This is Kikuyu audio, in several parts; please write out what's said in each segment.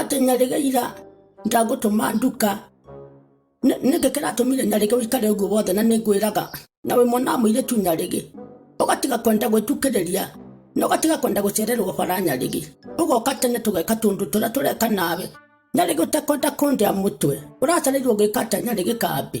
atĩ nyarĩga ira ndagũtũma nduka Nĩ- nĩkĩ kĩratũmire nyarĩga ũikare ũguo wothe na nĩngwĩraga na wĩ mwana wa mũirĩtu nyarĩgĩ ũgatiga kwenda gwĩtukĩrĩria na ũgatiga kwenda gũcererwo bara nyarĩgĩ ũgoka tene tũgeka tũndũ tũrĩa tũreka nawe nyarĩgĩ ũtekwenda kũndĩa mũtwe ũracarĩirwo gĩka atĩa nyarĩgĩ kambĩ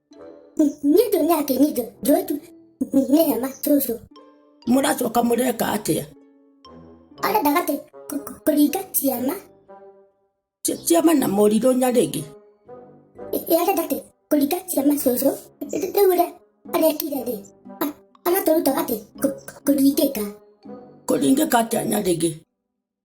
nĩ ndũrĩa akĩnyitwo njotu nĩ hema cũcũ mũracoka mũreka atĩa arenda gatĩ kũringa ciama Ci- ciama na morirũ nyarĩngĩ arenda gatĩ kũringa ciama cũcũ rĩu ũrĩa arekire rĩ a- aratũruta gatĩ kũringĩka kũringĩka atĩa nyarĩngĩ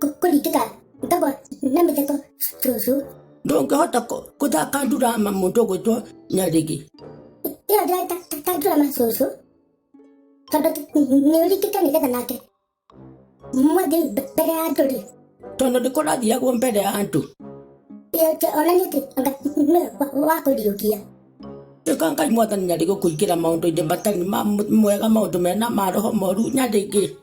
Ko- ko rĩngĩ ta ndogo na mĩtheko cũcũ ndũngĩhota kũ- gũthaka ndurama mũndũ gwĩtwo nyarigi ĩyo ndĩratandũra ma cũcũ tondũ nĩ ũrĩkĩte nĩgetha nake mwathiĩ mbere ya andũ rĩ tondũ ndĩkũrathiagwo mbere ya andũ onanie atĩ anga nĩ wakũriũkia ĩka ngai mwathani nyarigi kũingĩra maũndũ-inĩ matarĩ ma mwega maũndũ mena ma roho moru nyarigi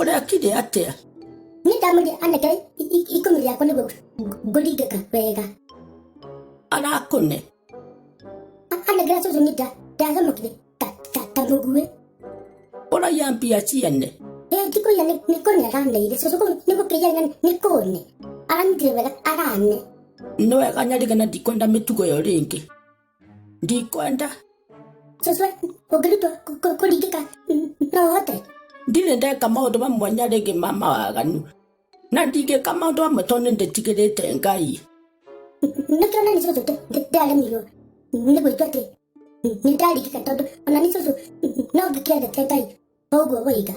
ũrekire atĩa ni ndamwĩrire aneke i- i- ikũmi rĩakwa nĩguo ng- ngũringĩka wega arakũne A- anengera cũcũ ni nda- ndacamũkire ta- ta- ta mũguĩ ũraiya mbia ciene Ee, ndikũiya nĩ- nĩ kũne araneire cũcũ kũu nĩ gũkĩiya na nĩ kũne aranyitire wega arane nĩ wega nyarigana ndikwenda mĩtugo ĩyo rĩngĩ ndikwenda sasa ũngĩrutwo kũ- kũ- kũringĩka mm, no ũhote ndirĩ ndeka maũndũ mamwe na rĩngĩ ma mawaganu na ndingĩka maũndũ mamwe tondũ nĩndĩtigĩrĩte ngai nĩkĩo nani cũcũ ndĩ- ndĩ- ndĩaremirwo nĩ gwĩtua atĩ mm, nĩndaringĩka tondũ ona nĩ cũcũ mm, no ngĩkĩendete ngai ũguo wĩiga